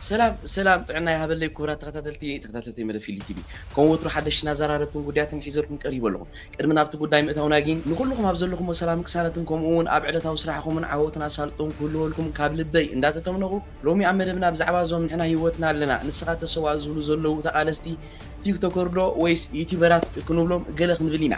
ሰላም ሰላም ጥዕና ይሃበለይ ኩቡራት ተኸታተልቲ ተኸታተልቲ መደብ ፊሊ ቲቪ ከም ወትሩ ሓደሽትን ኣዛራረብትን ጉዳያትን ሒዘልኩም ቀሪበ ኣለኹ ቅድሚ ናብቲ ጉዳይ ምእታውና ጊን ንኹሉኹም ኣብ ዘለኹሞ ሰላምን ቅሳነትን ከምኡ ውን ኣብ ዕለታዊ ስራሕኹምን ዓወትን ኣሳልጦን ክህልወልኩም ካብ ልበይ እንዳተተምነኹ ሎሚ ኣብ መደብና ብዛዕባ እዞም ንሕና ሂወትና ኣለና ንስኻ ተሰዋእ ዝብሉ ዘለዉ ተቓለስቲ ቲክቶከር ዶ ወይስ ዩቲበራት ክንብሎም ገለ ክንብል ኢና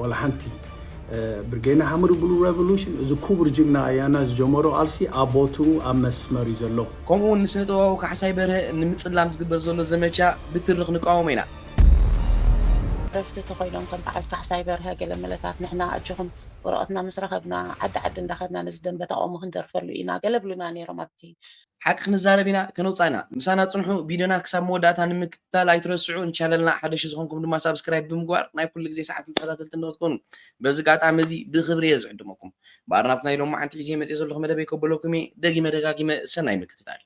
ዋላ ሓንቲ ብርጌድ ንሓመዱ ብሉ ረቮሉሽን እዚ ኩቡር ጅግና ኣያና ዝጀመሮ ቃልሲ ኣብ ቦትኡ ኣብ መስመር እዩ ዘሎ። ከምኡ ውን ንስነ ጥበባዊ ካሕሳይ በርሀ ንምጽላም ዝግበር ዘሎ ዘመቻ ብትርኽ ንቃወሞ ኢና። ዕረፍቲ ተኾይኖም ከም በዓል ካሕሳይ በርሀ ገለመለታት ንሕና ኣጆኹም ወረቐትና ምስ ረኸብና ዓዲ ዓዲ እንዳኸድና ነዚ ደምበ ተቓውሞ ክንደርፈሉ ኢና ገለ ብሉና ኔሮም ኣብቲ ሓቂ ክንዛረብ ኢና ከነውጽኣ ኢና ምሳና ጽንሑ ቪድዮና ክሳብ መወዳእታ ንምክትታል ኣይትረስዑ ንቻነልና ሓደሽቲ ዝኾንኩም ድማ ሳብስክራይብ ብምግባር ናይ ኩሉ ግዜ ሰዓትን ተኸታተልቲ ንኽትኮኑ በዚ ኣጋጣሚ እዚ ብኽብሪ እየ ዝዕድመኩም እምበኣር ናብቲ ናይ ሎማዓንቲ ሒዘዮ መጽየ ዘለኹ መደበይ ከበለኩም እየ ደጊመ ደጋጊመ ሰናይ ምክትታል።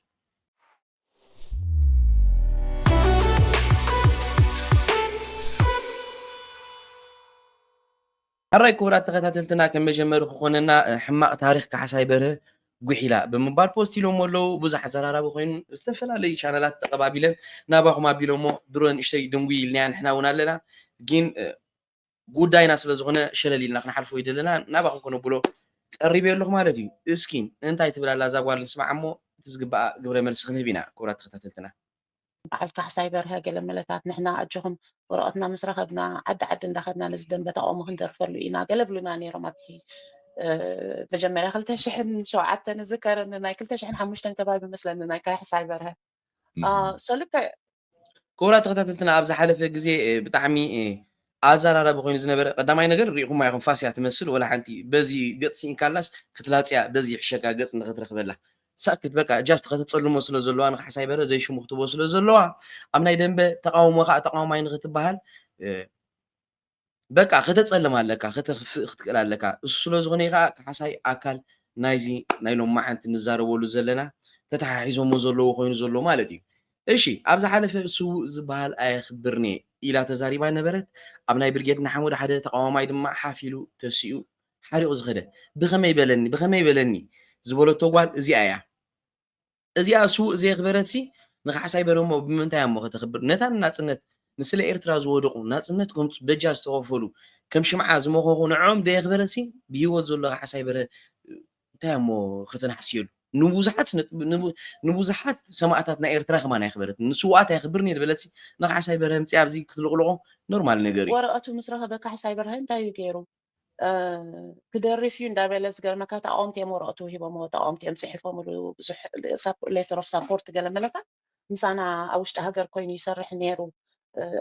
ሐራይ ክቡራት ተኸታተልትና ከም መጀመሪ ክኾነና ሕማቅ ታሪኽ ካሕሳይ በርሀ ጉሒላ ብምባል ፖስት ኢሎሞ ኣለው ብዙሕ ኣዘራራቢ ኮይኑ ዝተፈላለዩ ቻነላት ተቀባቢለን ናባኹም ኣቢሎሞ ድሮ ንእሽተይ ድንጉይ ኢልናያ ንሕና እውን ኣለና ግን ጉዳይና ስለ ዝኾነ ሸለል ኢልና ክንሓልፎ ይደለና ናባኹም ከነብሎ ቀሪበ ኣለኹ ማለት እዩ እስኪ እንታይ ትብል ኣላ እዛ ጓል ንስማዕ እሞ እቲ ዝግባኣ ግብረ መልሲ ክንህብ ኢና ክቡራት ተኸታተልትና በዓል ካሕሳይ በርሀ ገለመለታት ንሕና ኣጆኹም ወረቐትና ምስ ረኸብና ዓዲ ዓዲ እንዳኸድና ነዚ ደንበ ተቓውሞ ክንደርፈሉ ኢና ገለ ብሉና ነይሮም ኣብቲ መጀመርያ ክልተ ሽሕን ሸውዓተን እዝከር ንናይ ክልተ ሽሕን ሓሙሽተን ከባቢ መስለኒ ናይ ካሕሳይ በርሀ ሶልከ ክቡራት ተኸታተልትና ኣብ ዝሓለፈ ግዜ ብጣዕሚ ኣዛራራቢ ኮይኑ ዝነበረ ቀዳማይ ነገር ሪኢኩማ ኢኩም ፋስ እያ ትመስል ወላ ሓንቲ በዚ ገጽ ሲኢንካላስ ክትላጽያ በዚ ይሕሸካ ገጽ ንክትረክበላ ሳክት በቃ ጃስት ከተጸልሞ ስለ ዘለዋ ንካሕሳይ በርሀ ዘይሽሙ ክትቦ ስለ ዘለዋ ኣብ ናይ ደንበ ተቃውሞ ካኣ ተቃዋማይ ንክትባሃል በቃ ከተጸልም ኣለካ ከተክፍእ ክትክእል ኣለካ እሱ ስለ ዝኮነ እዩ ካኣ ካሕሳይ ኣካል ናይዚ ናይ ሎማዓንቲ ንዛረበሉ ዘለና ተታሓሒዞሞ ዘለዎ ኮይኑ ዘሎ ማለት እዩ እሺ ኣብ ዝሓለፈ ስዉእ ዝበሃል ኣየኽብርን'የ ኢላ ተዛሪባ ነበረት፣ ኣብ ናይ ብርጌድ ንሓመዱ ሓደ ተቓዋማይ ድማ ሓፍ ኢሉ ተሲኡ ሓሪቑ ዝኸደ ብኸመይ በለኒ ብኸመይ በለኒ ዝበለቶ ጓል እዚኣ'ያ። እዚኣ ስዉእ ዘየኽበረትሲ ንካሕሳይ በርሀሞ ብምንታይ'ያ'ሞ ከተኽብር ነታ ንናጽነት ንስለ ኤርትራ ዝወደቑ ናጽነት ከምጽኡ በጃ ዝተኸፈሉ ከም ሽምዓ ዝመኸኹ ንዕኦም ደየኽበረትሲ ብሂወት ዘሎ ካሕሳይ በርሀ እንታይ ኣሞ ከተናዕስየሉ ንቡዙሓት ንቡዙሓት ሰማእታትና ኤርትራ ከማን ኣየኽበረትን ንስውኣት ኣየኽብርን እየ ዝበለትሲ ንካሕሳይ በርሀ ኣምጺኣ ኣብዚ ክትልቕልቖ ኖርማል ነገር እዩ። ወረቀቱ ምስ ረኸበ ካሕሳይ በርሀ እንታይ እዩ ጌሩ ክደርፍ እዩ እንዳበለ ዝገርመካ ተቃወምቲ እዮም ወረቀቱ ሂቦምዎ ተቃወምቲ እዮም ጺሒፎምሉ ብዙሕ ሌተር ኦፍ ሳፖርት ገለ መለታት ምሳና ኣብ ውሽጢ ሃገር ኮይኑ ይሰርሕ ኔሩ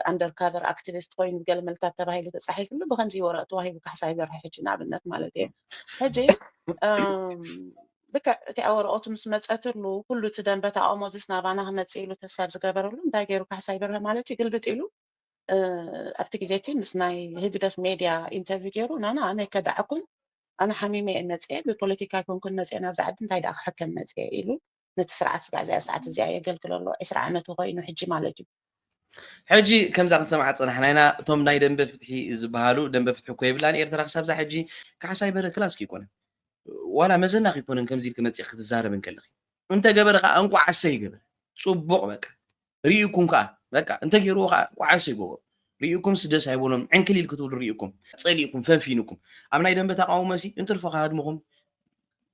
ኣንደር ካቨር ኣክቲቪስት ኮይኑ ገልመልታት ተባሂሉ ተጻሒፍሉ ብከምዚ ወረቅቲ ዋሂቡ ካሕሳ ይበርሐ ሕጂ ንኣብነት ማለት እየ ሕጂ ልክዕ እቲኣ ወረቀቱ ምስ መጸትሉ ኩሉ እቲ ደንበ ተቃውሞ ዝስ ናባና ክመጽእ ኢሉ ተስፋ ዝገበረሉ እንታይ ገይሩ ካሕሳ ይበርሀ ማለት እዩ ግልብጥ ኢሉ ኣብቲ ግዜ እቲ ምስ ናይ ህግደፍ ሜድያ ኢንተርቪው ገይሩ ናና ኣነ ከዳዕኩን ኣነ ሓሚመ እየ መጽኤ ብፖለቲካ ኣይኮንኩን መጽኤ ናብዚ ዓዲ እንታይ ደኣ ክሕከም መጽኤ ኢሉ ነቲ ስርዓት ስጋዕ እዚኣ ሰዓት እዚኣ የገልግሎ ኣሎ ዕስራ ዓመቱ ኮይኑ ሕጂ ማለት እዩ። ሕጂ ከምዛ ክንሰምዓ ዝጸናሕና ኢና እቶም ናይ ደንበ ፍትሒ ዝበሃሉ ደንበ ፍትሒ እኮ የብላን ኤርትራ ክሳብዛ ሕጂ ካሕሳይ በረ ክላስ ክይኮነ ዋላ መዘና ክይኮነን ከምዚ ኢልክ መጺኽ ክትዛረብ እንከለኺ እንተ ገበረ ከኣ እንቋዕ ኣሰይ ገበረ ጽቡቕ በቃ ርኢኩም ከኣ በቃ እንተ ገይርዎ ከኣ እንቋዕ ኣሰይ ገበሩ ርኢኩም ስደስ ኣይቦኖም ዕንክል ኢል ክትብሉ ርኢኩም ጸሊእኩም ፈንፊንኩም ኣብ ናይ ደንበ ተቃውሞሲ እንትርፎ ከሃድምኹም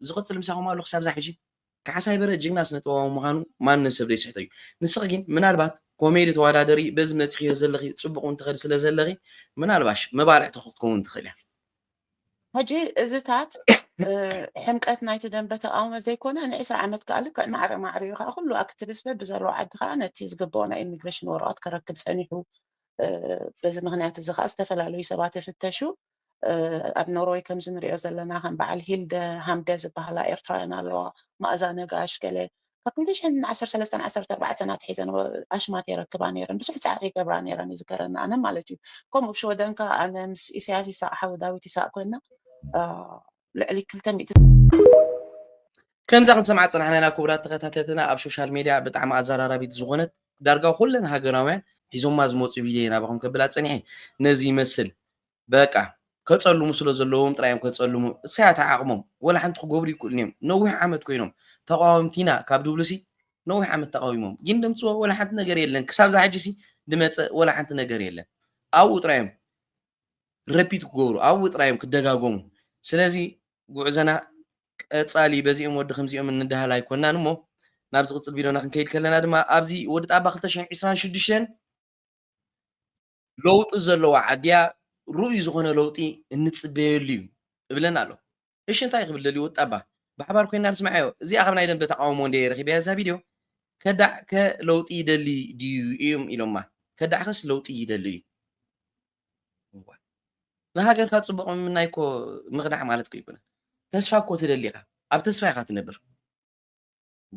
ዝቕጽል ምሳኹም ኣሎ ክሳብዛ ሕጂ ካሕሳይ በርሀ ጅግና ስነ ጥበባዊ ምኻኑ ማንም ሰብ ዘይስሕቶ እዩ ንስኺ ጊን ምናልባት ኮሜዲ ተዋዳደሪ በዚ መጺኺዮ ዘለኺ ጽቡቅ ውን ትኸዲ ስለ ዘለኺ ምናልባሽ መባልዕቲ ክትኮውን ትኽእል እያ። ሕጂ እዚታት ሕምቀት ናይቲ ደምበ ተቃውሞ ዘይኮነ ን ዕስራ ዓመት ከኣ ልክዕ ማዕረ ማዕሪኡ ከኣ ኩሉ ኣክትብስ በብዘለዎ ዓዲ ከኣ ነቲ ዝግበኦ ናይ ኢሚግረሽን ወረቀት ከረክብ ጸኒሑ በዚ ምክንያት እዚ ከኣ ዝተፈላለዩ ሰባት ይፍተሹ ኣብ ኖርወይ ከምዚ ንሪኦ ዘለና ከም በዓል ሂልደ ሃምደ ዝበሃላ ኤርትራውያን ኣለዋ መኣዛ ነጋሽ ገለ ካብ ክልተ ሽሕን ዓሰርተ ሰለስተን ዓሰርተ ኣርባዕተን ኣትሒዘን ኣሽማት የረክባ ነይረን ብዙሕ ጻዕሪ ይገብራ ነይረን ይዝከረኒ ኣነ ማለት እዩ ከምኡ ኣብ ሽወደን ከኣ ኣነ ምስ ኢሰያስ ይሳቅ ሓዊ ዳዊት ይሳቅ ኮይና ልዕሊ ክልተ ሚእቲ ከምዛ ክንሰምዓ ዝጸናሕና ኢና ክቡራት ተኸታተልትና ኣብ ሶሻል ሜድያ ብጣዕሚ ኣዘራራቢት ዝኾነት ዳርጋ ኩለን ሃገራውያን ሒዞማ ዝመጹ ቪድዮ ናባኹም ከብላ ጸኒሐ ነዚ ይመስል በቃ ከጸልሙ ስለ ዘለዎም ጥራይ እዮም ከጸልሙ እሳያት ዓቅሞም ወላ ሓንቲ ክገብሩ ይክእሉን እዮም ነዊሕ ዓመት ኮይኖም ተቃወምቲ ኢና ካብ ድብሉሲ ነዊሕ ዓመት ተቃዊሞም ግን ደምጽዎ ወላ ሓንቲ ነገር የለን ክሳብ ዝሓጂሲ ድመጸ ወላ ሓንቲ ነገር የለን ኣብኡ ጥራይ እዮም ረፒት ክገብሩ ኣብኡ ጥራይ እዮም ክደጋገሙ ስለዚ ጉዕዘና ቀጻሊ በዚኦም ወዲ ከምዚኦም እንዳሃል ኣይኮናን እሞ ናብ ዝቕጽል ቪድዮና ክንከይድ ከለና ድማ ኣብዚ ወዲ ጣባ 226 ለውጢ ዘለዋ ዓዲያ ርኡይ ዝኾነ ለውጢ እንጽበየሉ እዩ እብለና ኣሎ። እሺ እንታይ ክብል ደልዩ ወጣባ ብሓባር ኮይና ንስምዓዮ። እዚኣ ካብ ናይ ደንበ ተቓውሞ እንድየ ረኺበያ እዛ ቪድዮ። ከዳዕ ከ ለውጢ ይደሊ ድዩ እዮም ኢሎማ። ከዳዕ ከስ ለውጢ ይደሊ እዩ። ንሃገርካ ጽቡቕ ምምናይ እኮ ምኽዳዕ ማለት እኮ ኣይኮነን። ተስፋ እኮ ትደሊ ኢኻ። ኣብ ተስፋ ኢኻ ትነብር።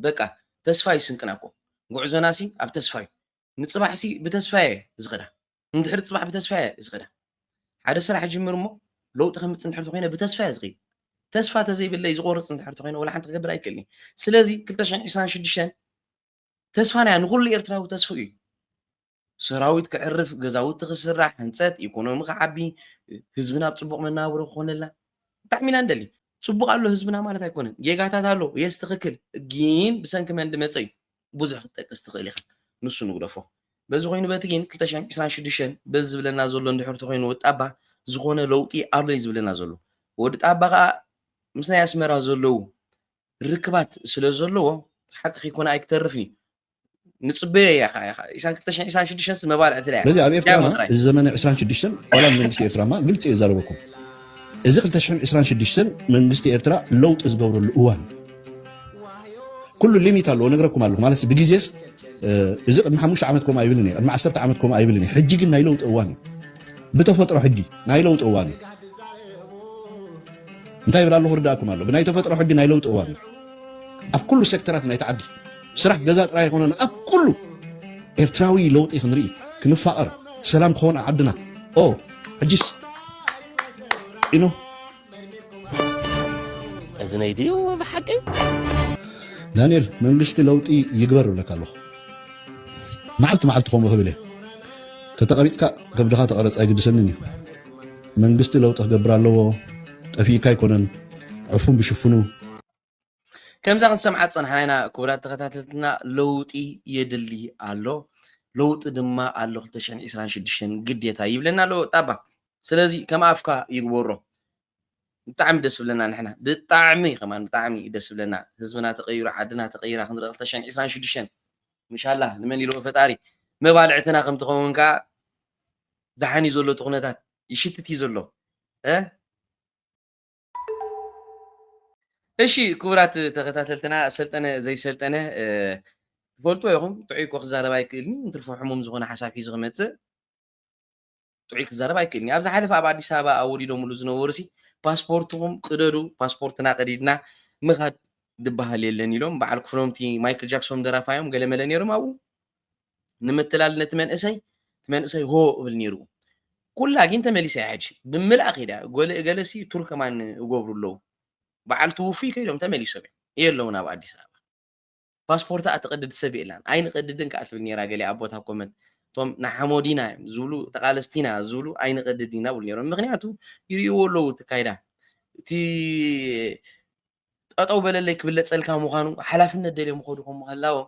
በቃ ተስፋ ዩ ስንቅና እኮ ጉዕዞና ሲ ኣብ ተስፋ ዩ ንጽባሕ ሲ ብተስፋ እየ ዝኸዳ ንድሕሪ ጽባሕ ብተስፋ እየ ዝኸዳ ሓደ ስራሕ እጅምር እሞ ለውጢ ከምጽእ እንድሕር ተኾይነ ብተስፋ እየ ዝኸይድ ተስፋ ተዘይብለይ ዝቆርጽ እንድሕር ተኾይነ ወላ ሓንቲ ክገብር ኣይክእልኒ ስለዚ ክልተ ሽሕን ዕስራን ሽዱሽተን ተስፋና እያ ንኹሉ ኤርትራዊ ተስፍኡ እዩ ሰራዊት ክዕርፍ፣ ገዛውቲ ክስራሕ፣ ህንጸት፣ ኢኮኖሚ ክዓቢ፣ ህዝብና ኣብ ጽቡቕ መነባብሮ ክኾነልና ብጣዕሚ ኢና ንደሊ። ጽቡቕ ኣሎ ህዝብና ማለት ኣይኮነን። ጌጋታት ኣሎ፣ የስ ትኽክል፣ ግን ብሰንኪ መን ድመጸ እዩ? ብዙሕ ክትጠቅስ ትኽእል ኢኻ። ንሱ ንግደፎ። በዚ ኮይኑ በቲ ግን ክልተ ሽሕን ዕስራን ሽዱሽተን በዚ ዝብለና ዘሎ እንድሕር ተኾይኑ ወዲ ጣባ ዝኾነ ለውጢ ኣሎ እዩ ዝብለና ዘሎ። ወዲ ጣባ ከኣ ምስ ናይ ኣስመራ ዘለዉ ርክባት ስለ ዘለዎ ሓቂ ከይኮነ ኣይክተርፍን እዩ። ንፅበዮ እያ ከዓ ኢኻ ኢሳን ክልተ ሽሕን ኢሳን ሽዱሽተን መባልዕቲ እያ ስለዚ ኣብ ኤርትራና እዚ ዘመነ ዕስራን ሽዱሽተን ዋላ መንግስቲ ኤርትራ ማ ግልፂ እየ ዛረበኩም እዚ ክልተ ሽሕን ዕስራን ሽዱሽተን መንግስቲ ኤርትራ ለውጢ ዝገብረሉ እዋን ኩሉ ሊሚት ኣለዎ ነግረኩም ኣለኹ ማለት ብግዜስ እዚ ቅድሚ ሓሙሽተ ዓመት ከምኡ ኣይብልን እየ ቅድሚ ዓሰርተ ዓመት ከምኡ ኣይብልን እየ ሕጂ ግን ናይ ለውጢ እዋን እዩ ብተፈጥሮ ሕጂ ናይ ለውጢ እዋን እዩ እንታይ ይብል ኣለኹ ርዳእኩም ኣሎ ብናይ ተፈጥሮ ሕጊ ናይ ለውጢ እዋን እዩ ኣብ ኩሉ ሴክተራት ናይቲ ዓዲ ስራሕ ገዛ ጥራይ ኣይኮነን ኣብ ኩሉ ኤርትራዊ ለውጢ ክንርኢ ክንፋቐር ሰላም ክኾን ዓድና ኦ ሕጂስ ኢኖ እዝነይ ድዩ ብሓቂ ዳንኤል መንግስቲ ለውጢ ይግበር እብለካ ኣለኹ መዓልቲ መዓልቲ ከምኡ ክብል እየ ተተቐሪፅካ ከብድኻ ተቐረፅ ኣይግድሰንን እዩ መንግስቲ ለውጢ ክገብር ኣለዎ ጠፊእካ ኣይኮነን ዕፉን ብሽፍኑ ከምዛ ክንሰምዓ ዝፀናሕና ኢና ክቡራት ተኸታተልትና ለውጢ የድሊ ኣሎ ለውጢ ድማ ኣሎ 226 ግዴታ ይብለና ኣሎ ጣባ ስለዚ ከም ኣፍካ ይግበሮ ብጣዕሚ ደስ ብለና ንሕና ብጣዕሚ ከማን ብጣዕሚ ደስ ብለና ህዝብና ተቀይሩ ዓድና ተቀይራ ክንርኢ 226 ምሻላ ንመን ኢልዎ ፈጣሪ መባልዕትና ከም ትኸውን ከዓ ደሓን እዩ ዘሎ እቲ ኩነታት ይሽትት እዩ ዘሎ እሺ ክቡራት ተኸታተልትና ሰልጠነ ዘይሰልጠነ ትፈልጥዎ ኢኹም ጥዑይ እኮ ክዛረብ ኣይክእልን እዩ እንትርፎ ሕሙም ዝኾነ ሓሳብ ሒዙ ክመፅእ ጥዑይ ክዛረብ ኣይክእልን እዩ ኣብ ዝሓለፈ ኣብ ኣዲስ ኣበባ ኣወዲዶምሉ ዝነበሩ ሲ ፓስፖርትኹም ቅደዱ ፓስፖርትና ቀዲድና ምኻድ ድበሃል የለን ኢሎም በዓል ክፍሎምቲ ማይክል ጃክሶን ደራፋዮም ገለመለ ነይሮም ኣብኡ ንምትላል ነቲ መንእሰይ እቲ መንእሰይ ሆ እብል ነይሩ ኩላ ግን ተመሊሰ ሕጂ ብምልኣ ከይዳ ጎለ ገለሲ ቱርከማን እገብሩ ኣለዉ በዓል ትውፉይ ከይዶም ተመሊሶም እዮም የለውን ኣብ ኣዲስ ኣበባ ፓስፖርታ እትቐድድ ሰብ የላን ኣይንቐድድን ከዓ ትብል ነራ ገሊኣ ኣቦት ኣብ ኮመንት እቶም ንሓሞዲና እዮም ዝብሉ ተቃለስቲና ዝብሉ ኣይንቐድድ ኢና ብሉ ነሮም ምክንያቱ ይርእዎ ኣለዉ ትካይዳ እቲ ጠጠው በለለይ ክብለፀልካ ምዃኑ ሓላፍነት ደልዮም ኸዱ ከም ምህላዎም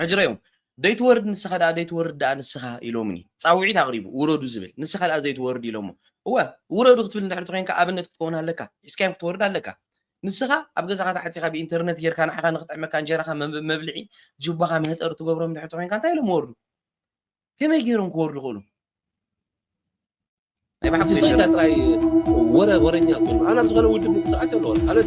ሕጂ ረዮም ደይትወርድ ንስኻ ደኣ ደይትወርድ ደኣ ንስኻ ኢሎምኒ ጻውዒት ኣቕሪቡ ውረዱ ዝብል ንስኻ ደኣ ዘይትወርድ ኢሎሞ እወ ውረዱ ክትብል እንድሕር ተኮይንካ ኣብነት ክትከውን ኣለካ ሒዝካዮም ክትወርድ ኣለካ ንስኻ ኣብ ገዛኻ ተዓጺኻ ብኢንተርነት ጌርካ ንዓኻ ንክጥዕመካ እንጀራኻ መብልዒ ጅባኻ መህጠሪ ትገብሮም እንድሕር ተኮይንካ እንታይ ኢሎም ወርዱ ከመይ ገይሮም ክወርዱ ክእሉ ናይ ባሓቂ ሰይታ ጥራይ ወረ ወረኛ ኮይኑ ኣነ ኣብ ዝኾነ ውድብ ምንቅስቃሴ ኣለዎ ኣነ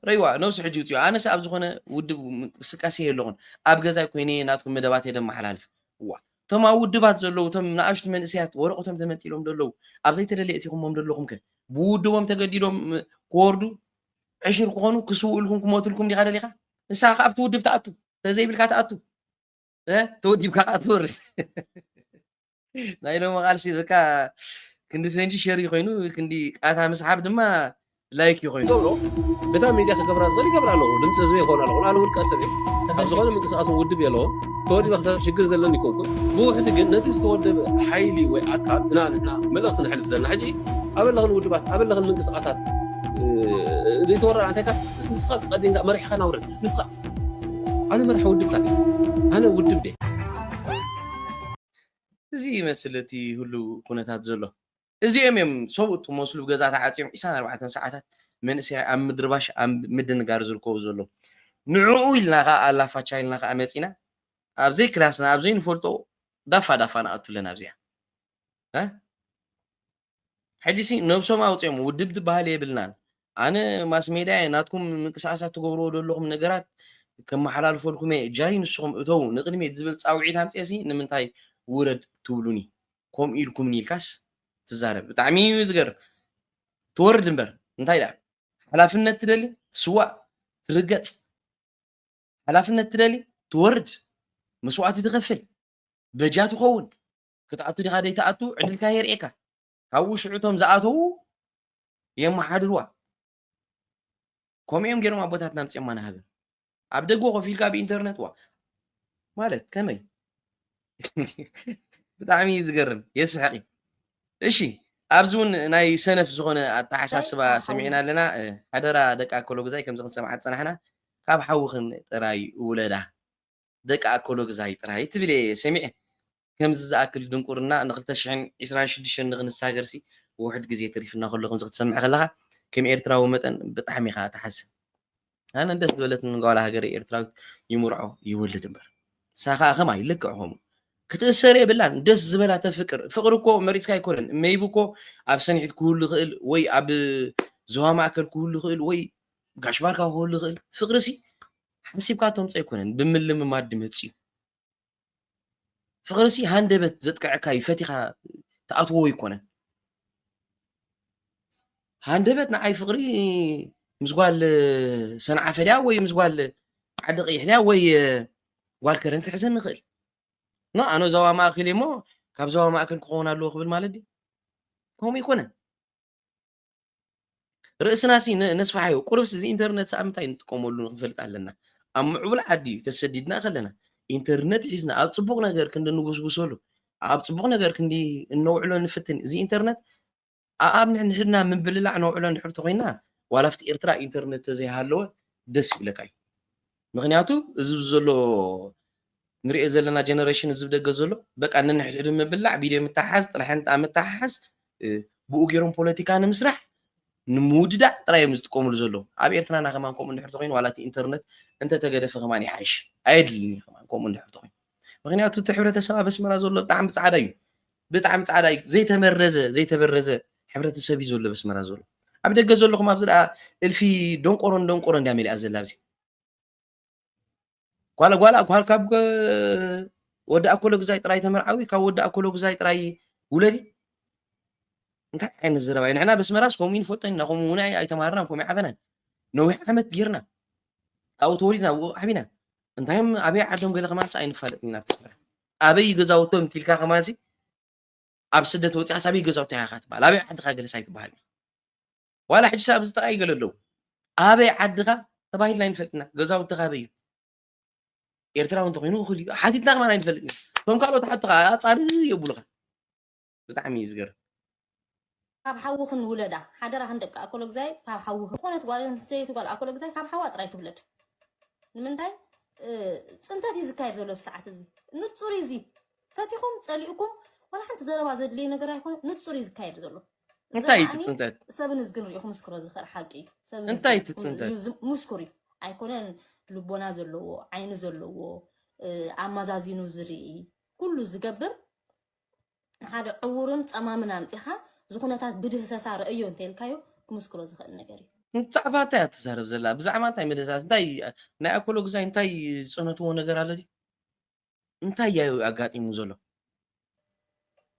ረይዋ ነብሲ ሕጂ ውፅዮ ኣነስ ኣብ ዝኾነ ውድብ ምንቅስቃሴ የለኹን ኣብ ገዛይ ኮይነ ናትኩም መደባት እየ ደመሓላልፍ እዋ እቶም ኣብ ውድባት ዘለዉ እቶም ንኣሽቱ መንእሰያት ወረቐቶም ተመንጢሎም ዘለዉ ኣብ ዘይተደለየ እቲኹሞም ዘለኹም ከ ብውድቦም ተገዲዶም ክወርዱ ዕሽር ክኾኑ ክስውእልኩም ክሞትልኩም ዲኻ ደሊኻ ንስኻ ከ ኣብቲ ውድብ ተኣቱ ተዘይብልካ ተኣቱ ተወዲብካ ከዓ ትወርድ ናይ ሎሚ ቃልሲ በቃ ክንዲ ፈንጂ ሸር እዩ ኮይኑ ክንዲ ቃታ ምስሓብ ድማ ላይክ እዩ ኮይኑ ገብሮ በታ ሚድያ ክገብራ ዝኽእል ይገብራ ኣለኹ ድምፂ ህዝቢ ይኸውን ኣለኹ ኣነ ውልቀ ሰብ እየ ኣብ ዝኾነ ምንቅስቃስ ውድብ የለዎ ተወዲበ ክሰርሕ ሽግር ዘለኒ ይኮንኩን ብውሕዲ ግን ነቲ ዝተወደበ ሓይሊ ወይ ኣካል ግና ንሕና መልእኽቲ ንሕልፍ ዘለና ሕጂ ኣበለኽን ውድባት ኣበለኽን ምንቅስቃሳት ዘይተወረራ እንታይካ ንስኻ ቀዲምካ መሪሕኻ ናውረድ ንስኻ ኣነ መራሒ ውድብ ጻድቅ ኣነ ውድብ ድየ። እዚ ይመስል እቲ ህሉው ኩነታት ዘሎ። እዚኦም እዮም ሰብኡት ክመስሉ ገዛ ተዓጽዮም ዕስራን ኣርባዕተን ሰዓታት መንእሰያይ ኣብ ምድርባሽ ኣብ ምድንጋር ዝርከቡ ዘለዉ። ንዕኡ ኢልና ከኣ ኣላፋቻ ኢልና ከኣ መጺና ኣብ ዘይክላስና ኣብ ዘይንፈልጦ ዳፋ ዳፋ ንኣቱ ኣለና ኣብዚኣ። ሕጂሲ ነብሶም ኣውጺኦም ውድብ ዝበሃል የብልናን ኣነ ማስሜድያ እየ ናትኩም ምንቅስቃሳት ትገብርዎ ዘለኹም ነገራት ከመሓላልፈልኩም እየ ጃሂ ንስኹም እተው ንቅድሚት ዝብል ጻውዒት ኣምጽኤሲ ንምንታይ ውረድ ትብሉኒ ከምኡ ኢልኩምኒ ኢልካስ ትዛረብ ብጣዕሚ እዩ ዝገርም ትወርድ እምበር እንታይ ደኣ ሓላፍነት ትደሊ ትስዋእ ትርገጽ ሓላፍነት ትደሊ ትወርድ መስዋእቲ ትኸፍል በጃ ትኸውን ክትኣቱ ዲኻ ዘይትኣቱ ዕድልካ የርእየካ ካብኡ ሽዑ እቶም ዝኣተዉ የመሓድርዋ ከምኡ እዮም ገይሮም ኣቦታትና ኣምፅኦማ ንሃገር ኣብ ደጎ ኮፍ ኢልካ ብኢንተርነት ዋ ማለት ከመይ ብጣዕሚ እዩ ዝገርም የስሕቂ እሺ ኣብዚ እውን ናይ ሰነፍ ዝኾነ ኣተሓሳስባ ሰሚዕና ኣለና ሓደራ ደቂ ኣከሎ ግዛይ ከምዚ ክንሰምዓ ዝፀናሕና ካብ ሓውኽን ጥራይ ውለዳ ደቂ ኣኮሎግዛይ ጥራይ ትብል እየ ሰሚዐ ከምዚ ዝኣክል ድንቁርና ን ክልተ ሽሕን ዕስራን ሽዱሽተን ንክንሳገርሲ ውሑድ ግዜ ተሪፉና ከሎ ከምዚ ክትሰምዕ ከለካ ከም ኤርትራዊ መጠን ብጣዕሚ ኢካ ትሓዝን ኣነ ደስ ዝበለትኒ ጓል ሃገረይ ኤርትራዊት ይምርዖ ይወልድ እምበር ንሳ ከኣ ከማይ ልክዕ ከምኡ ክትእሰር የብላን ደስ ዝበላ ተፍቅር ፍቅሪ እኮ መሪጽካ ኣይኮነን መይብ እኮ ኣብ ሰንሒት ክህሉ ይኽእል ወይ ኣብ ዞባ ማእከል ክህሉ ይኽእል ወይ ጋሽ ባርካ ክህሉ ይኽእል ፍቅሪ ሲ ሓሲብካ ተምጾ ኣይኮነን ብምልምማድ ድመጽዩ ፍቅሪሲ ሃንደበት ዘጥቅዐካ እዩ ፈቲካ ትኣትዎ ኣይኮነን ሃንደበት ንዓይ ፍቅሪ ምስ ጓል ሰንዓፈ ድያ ወይ ምስ ጓል ዓዲ ቀይሕ ድያ ወይ ጓል ከረን ክሕዘኒ ይኽእል ኖ ኣነ ዞባ ማእከል እሞ ካብ ዞባ ማእከል ክኸውን ኣለዎ ክብል ማለት ድዩ ከምኡ ኣይኮነን ርእስና ሲ ነስፋሓዮ ቁርብሲ እዚ ኢንተርነት ሰኣብ ምንታይ ንጥቀመሉ ንክንፈልጥ ኣለና ኣብ ምዕቡል ዓዲ እዩ ተሰዲድና ከለና ኢንተርነት ሒዝና ኣብ ፅቡቕ ነገር ክንዲ ንጉስጉሰሉ ኣብ ፅቡቕ ነገር ክንዲ እነውዕሎ ንፍትን እዚ ኢንተርነት ኣኣብ ንሕድና ምብልላዕ ነውዕሎ እንድሕር ተኮይና ዋላ ኣብቲ ኤርትራ ኢንተርነት ተዘይሃለወ ደስ ይብለካ እዩ ምክንያቱ እዚ ዘሎ ንሪኦ ዘለና ጀነረሽን እዚ ደገ ዘሎ በቃ ንንሕድሕዱ ምብላዕ ቪድዮ ምትሓሓዝ ጥርሕንጣ ምትሓሓዝ ብኡ ገይሮም ፖለቲካ ንምስራሕ ንምውድዳእ ጥራይ እዮም ዝጥቀምሉ ዘለዉ ኣብ ኤርትራና ከማን ከምኡ እንድሕር ተኮይኑ ዋላ እቲ ኢንተርነት እንተተገደፈ ከማን ይሓይሽ ኣየድልን እዩ ከማን ከምኡ እንድሕር ተኮይኑ ምክንያቱ እቲ ሕብረተሰብ ኣብ ኣስመራ ዘሎ ብጣዕሚ ጻዕዳ እዩ ብጣዕሚ ጻዕዳ እዩ ዘይተመረዘ ዘይተበረዘ ሕብረተሰብ እዩ ዘሎ ኣብ ኣስመራ ዘሎ ኣብ ደገ ዘለኹም ኣብዚ ደኣ እልፊ ደንቆሮን ደንቆሮን ድያ መሊኣ ዘላ ኣብዚ ጓል ጓል ጓል ካብ ወዲ ኣኮሎ ግዛይ ጥራይ ተመርዓዊ ካብ ወዲ ኣኮሎ ግዛይ ጥራይ ውለዲ እንታይ ዓይነት ዘረባ እዩ ንሕና በስመራስ ከምኡ ንፈልጦ ኢና ከምኡ እውን ኣይተማሃርናን ከምኡ ይዓበናን ነዊሕ ዓመት ጌርና ኣብኡ ተወሊድና ኣብኡ ዓቢና እንታይም ኣበይ ዓዶም ገለ ከማንስ ኣይንፋለጥን ኢና ትስምዕ ኣበይ ገዛውቶም እንቲልካ ከማንሲ ኣብ ስደት ወፂኣስ ኣበይ ገዛውታ ኢኻ ትበሃል ኣበይ ዓድኻ ገለስ ኣይትበሃል ዋላ ሕጂ ሰብ ኣብዚ ጥቃይ ገለ ኣለዉ ኣበይ ዓድኻ ተባሂልና ኣይንፈልጥና ገዛውትኻ ኣበይ እዩ ኤርትራዊ እንተኮይኑ እኹል እዩ ሓቲትና ከማን ኣይንፈልጥን እቶም ካልኦት ሓቱ ከዓ ኣፃሪ የብሉኻ ብጣዕሚ እዩ ዝገርም። ካብ ሓውኽን ውለዳ ሓደራኽን ደቂ ኣኮሎግዛይ ካብ ሓውኽን ዝኾነት ጓል ኣንስተይቲ ጓል ኣኮሎግዛይ ካብ ሓዋ ጥራይ ትውለድ ንምንታይ ፅንተት እዩ ዝካየድ ዘሎ ብሰዓት እዚ ንፁር እዩ እዚ ፈቲኹም ፀሊእኩም ዋላ ሓንቲ ዘረባ ዘድልዩ ነገር ኣይኮነ ንፁር እዩ ዝካየድ ዘሎ እንታይ እዩ ትፅንተት ሰብን እዝግን ሪኢኹ ምስክሮ ዝኽእል ሓቂ እዩ ሰብን እንታይ ትፅንተት ምስኩር እዩ ኣይኮነን ልቦና ዘለዎ ዓይኒ ዘለዎ ኣመዛዚኑ ዝርኢ ኩሉ ዝገብር ንሓደ ዕዉርን ጸማምን ኣምጺኻ እዚ ኩነታት ብድህሰሳ ረእዮ እንተኢልካዮ ክምስክሮ ዝኽእል ነገር እዩ። ብዛዕባ እንታይ እያ ትዛረብ ዘላ ብዛዕባ እንታይ ምድህሳስ እንታይ ናይ ኣኮሎ ግዛይ እንታይ ዝጸነትዎ ነገር ኣሎ ድዩ እንታይ ያዩ ኣጋጢሙ ዘሎ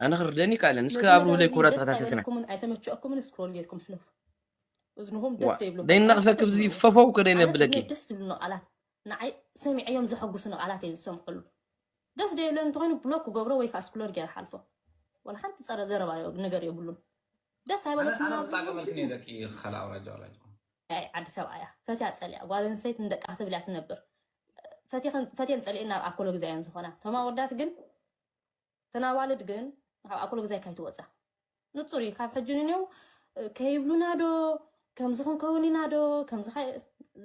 ኣነ ክርደኒ ይካለን እስከ ነዚ ኣብርሁለይ መደብ ኩብራ እዚ ደስ ተኸታተልትና ኣይበለኩምን ኣይተመቸኦኩምን ስክሮል ጌርኩም ሕለፉ እዝንኹም ደስ ዋ ዘይብለኩም ቃላት ደይነቕፈኪ ብዚ ኣይተስምዑ ፈፈው ኣነ ከደይነብለኪ ብፍላይ ደስ ዝብሉኒ ቃላት ንዓይ ሰሚዐዮም ዘሐጉስኒ ቃላት እየ ዝሰምዐሉ ደስ ደይብለኒ እንተኮይኑ ብሎክ ክገብሮ ወይ ከኣ ስክሎር ገይረ ሓልፎ ወላ ሓንቲ ጸረ ዘረባ ነገር የብሉን ደስ ኣይበለኩምን ኣብዚ ኣነ ክጻገመልክን እየ ደቂ ኸልኣ ኣውራጃ ኣውራጃ ኣይ ዓዲ ሰብኣያ ፈትያ ጸሊኣ ጓል ኣንስተይቲ ንደቃ ክትብል እያ ትነብር ፈትየኸን ፈትየን ጸሊኤን ናብ ኣኮሎ ግዛ እየን ዝኾና እቶም ኣወዳት ግን እተን ኣዋልድ ግን ካብ ኣኮሎ ግዛ ኣይካይትወጻ ንጹር እዩ ካብ ሕጂ ንኔው ከይብሉና ዶ ከምዚ ክንከውን ኢና ዶ ከምዚ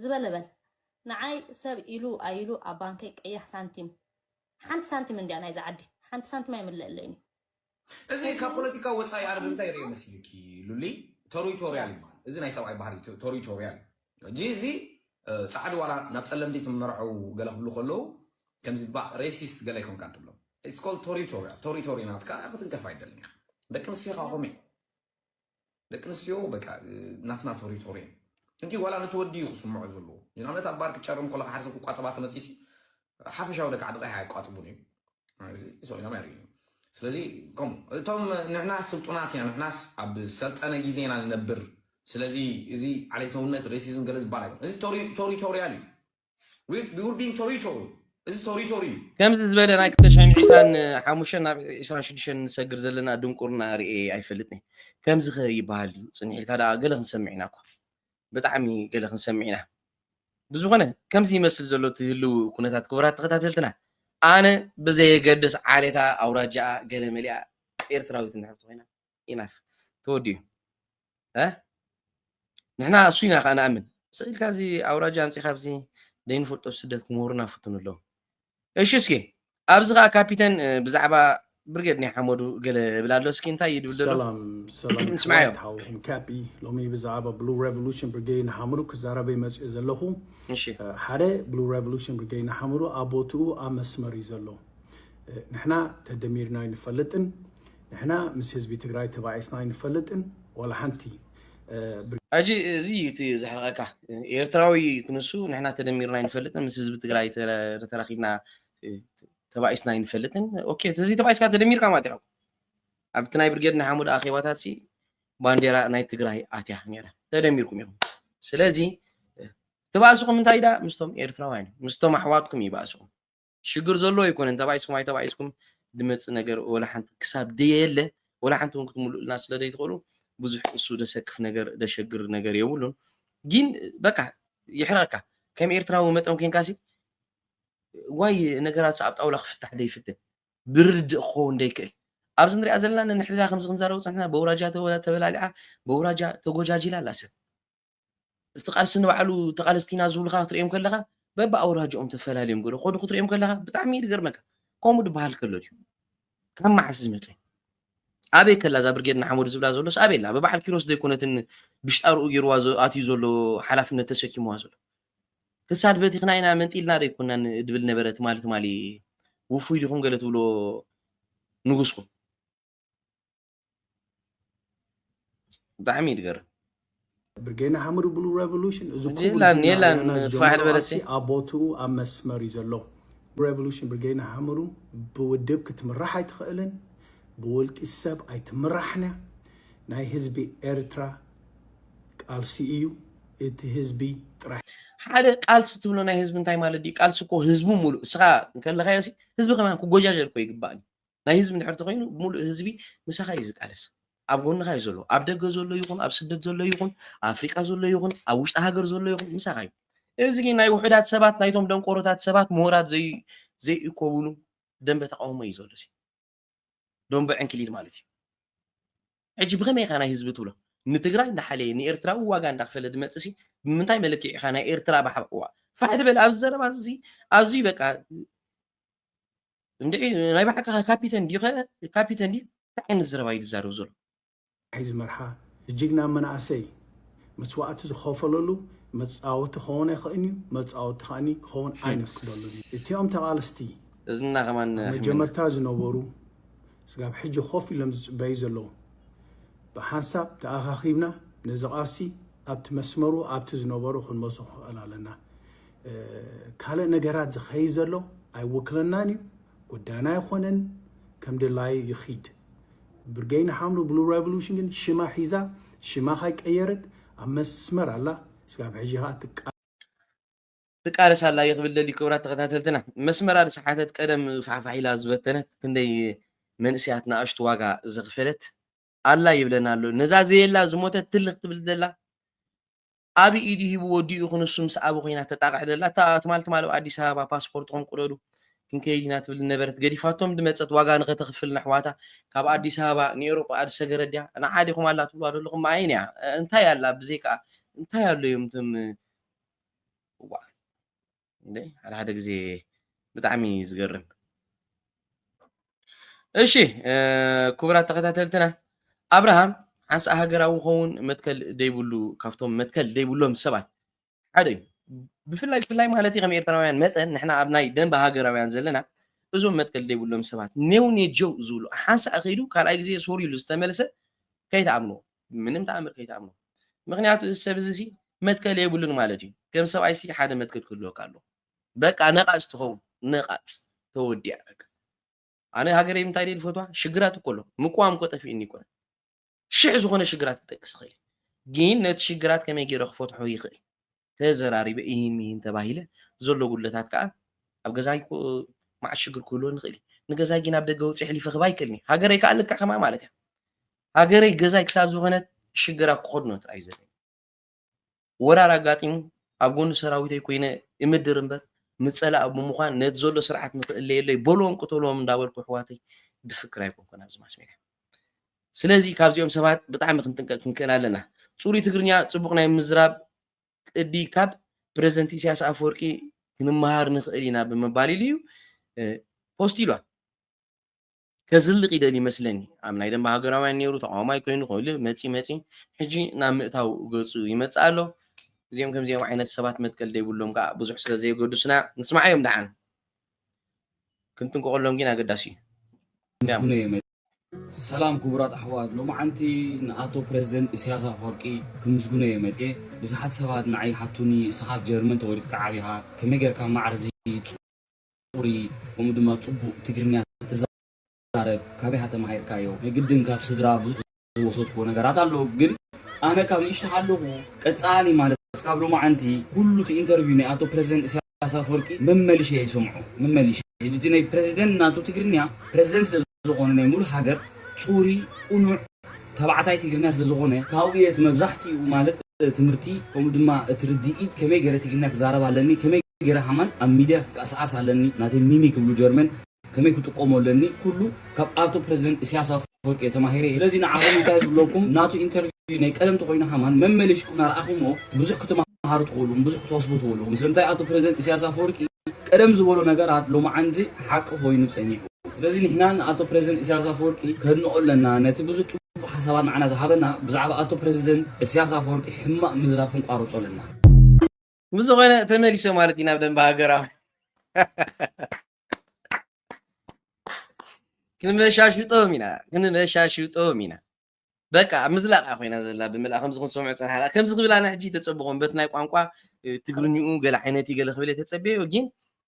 ዝበለበል ንዓይ ሰብ ኢሉ ኣይሉ ኣብ ባንከይ ቀያሕ ሳንቲም ሓንቲ ሳንቲም እንድያ ናይዚ ዓዲ ሓንቲ ሳንቲም ኣይምለለይን እዩ እዚ ካብ ፖለቲካ ወፃኢ ኣነ ብምንታይ ይሪኦ መሲልኪ ሉሊ ቶሪቶሪያል ይበሃል እዚ ናይ ሰብኣይ ባህሪ ቶሪቶሪያል እዚ እዚ ፃዕዲ ዋላ ናብ ፀለምቲ ትመርዐው ገለ ክብሉ ከለዉ ከምዚ ባእ ሬሲስት ገለ ኣይኮንካን ትብሎ ኢትስ ኮልድ ቶሪቶርያል ቶሪቶሪ ናትካ ክትንከፍ ኣይደልን ኢካ ደቂ ኣንስትዮ ከኣ ከምኡ እየን ደቂ ኣንስትዮ በቃ ናትና ቶሪቶሪ እየን እንዲ ዋላ ነቲ ወዲ እዩ ክስምዖ ዘለዎ ንኣብነት ኣብ ባር ክጨርም ከሎ ሓደ ሰብ ክቋጠባ ተመፂሲ ሓፈሻዊ ደቂ ዓዲ ቀይሕ ኣየቋጥቡን እዩ ሰኢሎም ኣይርእዩ ስለዚ ከምኡ እቶም ንሕና ስልጡናት ኢና ንሕናስ ኣብ ሰልጠነ ግዜ ኢና ንነብር ስለዚ እዚ ዓሌታውነት ሬሲዝም ገለ ዝበሃል ኣይኮነ እዚ ቶሪቶሪያል እዩ ከምዚ ዝበለ ናይ ክልተ ሽሕን ዒስራን ሓሙሽተን ናብ ዒስራን ሽዱሽተን ንሰግር ዘለና ድንቁርና ርእየ ኣይፈልጥን ከምዚ ከ ይበሃል ድዩ ጽንሕ ኢልካ ደኣ ገለ ክንሰምዕ ኢና እኳ ብጣዕሚ ገለ ክንሰምዕ ኢና ብዝኾነ ከምዚ ይመስል ዘሎ እቲ ህልው ኩነታት ክቡራት ተኸታተልትና ኣነ ብዘየገድስ ዓሌታ ኣውራጃኣ ገለ መሊኣ ኤርትራዊት እንድሕር ተኾይና ኢናፍ ተወዲኡ እ ንሕና እሱ ኢና ከዓ ንኣምን ስኢልካ እዚ ኣውራጃ ኣምፂኻ ኣብዚ ዘይንፈልጦ ስደት ክምህሩና ፍትኑ ኣለዉ እሺ እስኪ ኣብዚ ከዓ ካፒተን ብዛዕባ ብርጌድ ናይ ሓመዱ ገለ እብል ኣሎ እስኪ እንታይ እዩ ድብል ዘሎ ሰላም ሰላም ስምዓዮ ክቡራት ሓውኹም ካፒ ሎሚ ብዛዕባ ብሉ ሬቮሉሽን ብርጌድ ንሓመዱ ክዛረበ መፅኡ ዘለኹ እሺ እ፣ ሓደ ብሉ ሬቮሉሽን ብርጌድ ንሓመዱ ኣብ ቦትኡ ኣብ መስመር እዩ ዘሎ እ፣ ንሕና ተደሚርና ኣይንፈልጥን ንሕና ምስ ህዝቢ ትግራይ ተባኢስና ኣይንፈልጥን ዋላ ሓንቲ። ሐጂ እዚ እዩ እቲ ዘሕርቀካ ኤርትራዊ ክንሱ ንሕና ተደሚርና ኣይንፈልጥን ምስ ህዝቢ ትግራይ ተራኪብና ተባኢስና ኣይንፈልጥን ኦኬ እዚ ተባኢስካ ተደሚርካ ማለት እዩ ኣብቲ ናይ ብርጌድ ንሓሙድ ኣኼባታት ሲ ባንዴራ ናይ ትግራይ ኣትያ ነይራ ተደሚርኩም ኢኹም ስለዚ ትባእስኹም እንታይ ዳ ምስቶም ኤርትራውያን ምስቶም ኣሕዋትኩም ይባእስኹም ሽግር ዘሎ ኣይኮነን ተባኢስኩም ኣይተባኢስኩም ድመጽእ ነገር ወላ ሓንቲ ክሳብ ደየለ ወላ ሓንቲ ውን ክትምሉእልና ስለ ደይትኽእሉ ብዙሕ እሱ ደሰክፍ ነገር ደሸግር ነገር የብሉን ግን በቃ ይሕረቀካ ከም ኤርትራዊ መጠን ኮንካ ሲ ዋይ ነገራት ኣብ ጣውላ ክፍታሕ ደይፍትን ብርድእ ክኸውን ደይክእል ኣብዚ ንሪኣ ዘለና ንሕድራ ከምዚ ክንዛረቡ ፀንሕና በውራጃ ተበላሊዓ በውራጃ ተጎጃጂላ ኣላ ሰብ እቲ ቃልሲ ንባዕሉ ተቃለስቲ ኢና ዝብሉኻ ክትሪኦም ከለኻ በብኣውራጅኦም ተፈላልዮም ገለ ኮዱ ክትሪኦም ከለኻ ብጣዕሚ እዩ ዝገርመካ ከምኡ ድበሃል ከሎ ድዩ ካብ መዓስ ዝመፀ ኣበይ ከላ እዛ ብርጌድ ንሓመዱ ዝብላ ዘሎስ ኣበይ ኣላ ብበዓል ኪሮስ ዘይኮነትን ብሽጣርኡ ገይርዋ ኣትዩ ዘሎ ሓላፍነት ተሰኪምዋ ዘሎ ክሳድ በቲኽና ኢና መንጢልና ዶ ይኮናን ድብል ነበረ ትማሊ ትማሊ ውፉይ ዲኹም ገለ ትብሎ ንጉስኩም ብጣዕሚ እዩ ዝገርም ብርጌና ሓመዱ ብሉ ሬቮሉሽን እዚ ኩቡር የላን ዜና የላን ወያና ፋሕ ዝጀመሮ በለት ኣርሲ ኣብ ቦትኡ ኣብ መስመር እዩ ዘሎ ሬቮሉሽን ብርጌና ሓመዱ ብውድብ ክትምራሕ ኣይትኽእልን ብውልቂ ሰብ ኣይትምራሕን እያ ናይ ህዝቢ ኤርትራ ቃልሲ እዩ እቲ ህዝቢ ጥራሕ ሓደ ቃልሲ ትብሎ ናይ ህዝቢ እንታይ ማለት ድዩ ቃልሲ እኮ ህዝቡ ሙሉእ እስኻ እንከለኻዮ ሲ ህዝቢ ከማን ክጎጃጀል እኮ ይግባእ ናይ ህዝቢ እንድሕር ተኾይኑ ሙሉእ ህዝቢ ምሳኻ እዩ ዝቃለስ ኣብ ጎንኻ እዩ ዘሎ ኣብ ደገ ዘሎ ይኹን ኣብ ስደት ዘሎ ይኹን ኣብ ኣፍሪቃ ዘሎ ይኹን ኣብ ውሽጢ ሃገር ዘሎ ይኹን ምሳኻ እዩ እዚ ግን ናይ ውሑዳት ሰባት ናይቶም ደንቆሮታት ሰባት ምሁራት ዘይ ዘይእኮብሉ ደንበ ተቃውሞ እዩ ዘሎ እዚ ደንበ ዕንክሊል ማለት እዩ ሕጂ ብኸመይ ኢኻ ናይ ህዝቢ ትብሎ ንትግራይ እንዳሓለየ ንኤርትራዊ ዋጋ እንዳክፈለ ድመፅእ ሲ ብምንታይ መለክዒ ኢኻ ናይ ኤርትራ ባሕባ ፋሕ ድበል ኣብዚ ዘረባ እዚ ኣዝዩ በቃ እንድዒ ናይ ባሓቂ ካፒተን ዲዩከ ካፒተን ዲዩ እንታይ ዓይነት ዘረባ ኢዩ ዝዛረብ ዘሎ። ናይ እዚ መርሓ ጅግና መናእሰይ መስዋእቲ ዝኸፈለሉ መፃወቲ ክኸውን ኣይኸእን እዩ መፃወቲ ከኣኒ ክኸውን ኣይነፍቅደሉን እዩ እቲኦም ተቓለስቲ እዝንና ከማን ኣብ ሕምና መጀመርታ ዝነበሩ ስጋብ ሕጂ ኮፍ ኢሎም ዝፅበዩ ዘለዉ ብሓንሳብ ተኣኻኺብና ነዚ ቓልሲ ኣብቲ መስመሩ ኣብቲ ዝነበሮ ክንመልሶ ክንኽእል ኣለና ካልእ ነገራት ዝኸይድ ዘሎ ኣይወክለናን እዩ፣ ጉዳይና ኣይኮነን፣ ከም ድላዩ ይኺድ። ብርጌድ ንሓምሉ ብሉ ሬቮሉሽን ግን ሽማ ሒዛ ሽማ ካይቀየረት ኣብ መስመር ኣላ ስጋብ ሕጂ ከዓ ትቃ ትቃለስ ኣላ እየ ክብል ደልዩ ክብራት ተኸታተልትና መስመራ ዝሰሓተት ቀደም ፋሕፋሕ ኢላ ዝበተነት ክንደይ መንእሰያት ንኣሽቱ ዋጋ ዘኽፈለት ኣላ ይብለና ኣሎ ነዛ ዘየላ ዝሞተት ትልኽ ትብል ዘላ ኣቢ ኢዱ ሂቡ ወዲኡ ክንሱ ምስ ኣቢ ኮይና ተጣቕዕ ደላ እታ ትማል ትማል ኣብ ኣዲስ ኣበባ ፓስፖርትኹም ቅደዱ ክንከይድ ኢና ትብል ዝነበረት ገዲፋቶም ድመጸት ዋጋ ንኸተኽፍል ነሕዋታ ካብ ኣዲስ ኣበባ ንኤሮጳ ኣድሰገረት ድያ ንዓ ዲኹም ኣላ ትብልዋ ደለኹም ኣየን እያ እንታይ ኣላ ብዘይካ እንታይ ኣሎ እዮም እቶም እዋእ እንዴ ሓደ ሓደ ጊዜ ብጣዕሚ እዩ ዝገርም እሺ ክቡራት ተኸታተልትና ኣብርሃም ሓንሳ ሃገራዊ ኸውን መትከል ደይብሉ ካብቶም መትከል ደይብሎም ሰባት ሓደ እዩ ብፍላይ ብፍላይ ማለት ከም ኤርትራውያን መጠን ንሕና ኣብ ናይ ደንበ ሃገራውያን ዘለና እዞም መትከል ደይብሎም ሰባት ኔው ኔጀው ዝብሉ ሓንሳ ከይዱ ካልኣይ ግዜ ሶሪ ኢሉ ዝተመልሰ ከይትኣምንዎ ብምንም ተኣምር ከይትኣምኖ ምክንያቱ እዚ ሰብ እዚ ሲ መትከል የብሉን ማለት እዩ ከም ሰብኣይ ሲ ሓደ መትከል ክህልወካ ኣለዎ በቃ ነቓጽ ትኸውን ነቓጽ ተወዲኣ በቃ ኣነ ሃገረይ እንታይ ደይ ዝፈትዋ ሽግራት እኮ ኣሎ ምቅዋም እኮ ጠፊእኒ ይኮነ ሽሕ ዝኾነ ሽግራት ክጠቅስ ይኽእል ግን ነቲ ሽግራት ከመይ ገይረ ክፈትሖ ይኽእል ተዘራሪበ ኢሂን ሚሂን ተባሂለ ዘሎ ጉድለታት ከኣ ኣብ ገዛይ እኮ መዓት ሽግር ክህልወኒ ይኽእል እዩ ንገዛይ ግን ኣብ ደገ ወፂ ሕሊፈ ክባ ይክእልኒ ሃገረይ ከኣ ልክዕ ከማ ማለት እያ ሃገረይ ገዛይ ክሳብ ዝኾነት ሽግራ ክኸድኖ ጥራይ ዘለ ወራር ኣጋጢሙ ኣብ ጎኒ ሰራዊተይ ኮይነ እምድር እምበር ምፀላእ ብምዃን ነቲ ዘሎ ስርዓት ንክእለየለይ በልዎም ቅተልዎም እንዳበልኩ ኣሕዋተይ ድፍክር ኣይኮንኩን ኣብዚ ማስሜድያ ስለዚ ካብዚኦም ሰባት ብጣዕሚ ክንጥንቀቅ ክንክእል ኣለና ጹሩይ ትግርኛ ጽቡቅ ናይ ምዝራብ ቅዲ ካብ ፕረዚደንት ኢሳያስ ኣፈወርቂ ክንመሃር ንክእል ኢና ብምባል ኢሉ እዩ ፖስት ኢሏል ከዝልቅ ይደል ይመስለኒ ኣብ ናይ ደንበ ሃገራውያን ነይሩ ተቃዋማይ ኮይኑ ኮይኑ መፂ መፂ ሕጂ ናብ ምእታው ገፁ ይመፅእ ኣሎ እዚኦም ከምዚኦም ዓይነት ሰባት መትከል ዘይብሎም ከዓ ብዙሕ ስለ ዘየገዱስና ንስማዓዮም ደሓን ክንጥንቀቐሎም ግን ኣገዳሲ እዩ። ምስጉነይ እየ መጺኣ። ሰላም ክቡራት ኣሕዋት ሎምዓንቲ ንኣቶ ፕረዚደንት ኢሰያስ ኣፈወርቂ ክምስግኖ እየ መጽየ ብዙሓት ሰባት ንዓይ ይሓቱኒ እስኻ ኣብ ጀርመን ተወሊድካ ዓቢኻ ከመይ ጌርካ ማዕርዚ ጽሩይ ከምኡ ድማ ጽቡቅ ትግርኛ ትዛረብ ትዛረብ ካበይ ተማሂርካዮ ንግድን ካብ ስድራ ዝወሰድክዎ ነገራት ኣሎ ግን ኣነ ካብ ንእሽቶ ካለኩ ቀጻሊ ማለት እስካብ ሎማዓንቲ ኩሉ እቲ ኢንተርቪው ናይ ኣቶ ፕረዚደንት እሳያስ ኣፍወርቂ መመሊሸ እየ ዝሰምዖ መመሊሸ ሕጂ እቲ ናይ ፕረዚደንት ናቱ ትግርኛ ፕረዚደንት ስለ ዝኾነ ናይ ሙሉእ ሃገር ጹሪ ቁኑዕ ተባዕታይ ትግርኛ ስለ ዝኾነ ካብኡ እየ እቲ መብዛሕቲኡ ማለት ትምህርቲ ከምኡ ድማ እቲ ርዲኢት ከመይ ገረ ትግርኛ ክዛረብ ኣለኒ ከመይ ገረ ሃማን ኣብ ሚድያ ክቃሳዓስ ኣለኒ ናተይ ሚሚ ክብሉ ጀርመን ከመይ ክጥቀሞ ኣለኒ ኩሉ ካብ ኣቶ ፕረዚደንት እስያስ ኣፈወርቂ እየ ተማሂረ ስለዚ ንዓኹም እንታይ ዝብለኩም ናቱ ኢንተርቪው ናይ ቀደም ተኾይኑ ከማን መመሊሽኩም ናርኣኹሞ ብዙሕ ክትመሃሩ ትኽእሉ ብዙሕ ክትወስቡ ትኽእሉ ምስልምታይ ኣቶ ፕረዚደንት እስያስ ኣፈወርቂ ቀደም ዝበሎ ነገራት ሎማዓንቲ ሓቂ ኾይኑ ፀኒሑ ስለዚ ንሕና ንኣቶ ፕረዚደንት እስያስ ኣፈወርቂ ከድንቆ ኣለና ነቲ ብዙሕ ፅቡቅ ሓሳባት ንዓና ዝሃበና ብዛዕባ ኣቶ ፕረዚደንት እስያስ ኣፈወርቂ ሕማቅ ምዝራብ ክንቋርፆ ኣለና። ብዝኾነ ተመሊሰ ማለት እዩ ናብ ደንበ ሃገራዊ ክንመሻሽጦም ኢና ክንመሻሽጦም ኢና በቃ ምዝላቕ እያ ኮይና ዘላ ብምልኣ ከምዚ ክንሰምዖ ፀናሕካ ከምዚ ክብል ኣነ ሕጂ ተፀብኾም በት ናይ ቋንቋ ትግርኝኡ ገለ ዓይነት እዩ ገለ ክብል እየ ተፀበዮ ግን